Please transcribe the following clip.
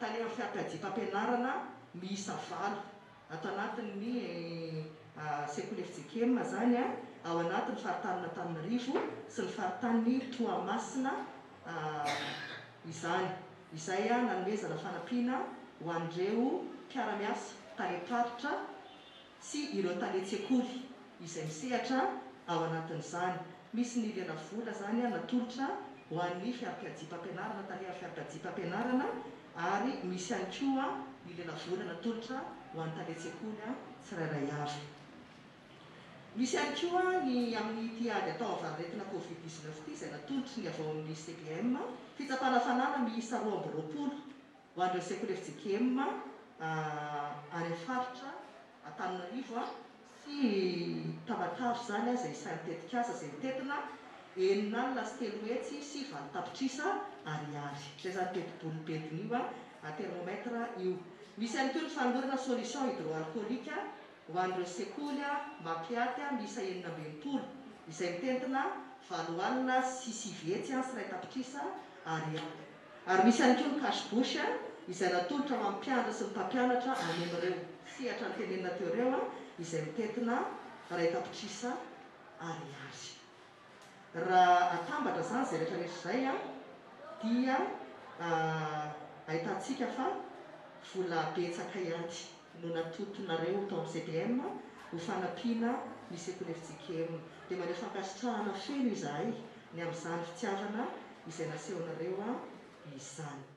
Tany amin'ny fiakajitam-pianarana miisa valo, ato anatin'ny sekoly FJKM izany, ao anatin'ny faritanin'Antananarivo sy ny faritanin'i Toamasina izany, izay nanomezana fanampiana ho an'ireo mpiara-miasa tany am-paritra, sy ireo tale tsekoly izay misehatra ao anatin'izany. Misy ny lela vola izany natolotra ho an'ny fiarpiadia-pampianarana, tale amin'ny fiarpiadia-pampianarana, ary misy ihany koa ny lela vola natolotra ho an'ny tale tsekoly tsirairay avy. Misy ihany koa ny amin'ity ady atao amin'ny variretina covid dix-neuf ity izay natolotry ny avy ao amin'ny CBM, fitsapana fanana miisa roa amby roapolo. Ho an'ireo sekoly FJKM any amin'ny faritra Antananarivo sy Tamatave izany izay isan'ny tetikasa izay mitentina enina alina sy telo hetsy sy valo tapitrisa ariary. Izay izany tetiboly mitentina io, thermomètre, io. Misy ihany koa ny fanolorana solution hydroalcoolique ho an'ireo sekoly Mapiaty miisa enina amby enimpolo izay mitentina valo alina sy sivy hetsy sy iray tapitrisa ariary. Ary misy ihany koa ny cash bush izay natolotra ho an'ny mpiandry sy ny mpampianatra hanemy ireo sehatra notenenina teo ireo izay mitentina iray tapitrisa ariary. Raha atambatra izany izay rehetra rehetra izay dia ahitantsika fa vola betsaka ihany. no natotonareo tao amin'ny CPM ho fanampiana ny sekoly fjkm dia maneho fankasitrahana feno izahay ny amin'izany fitiavana izay nasehonareo izany.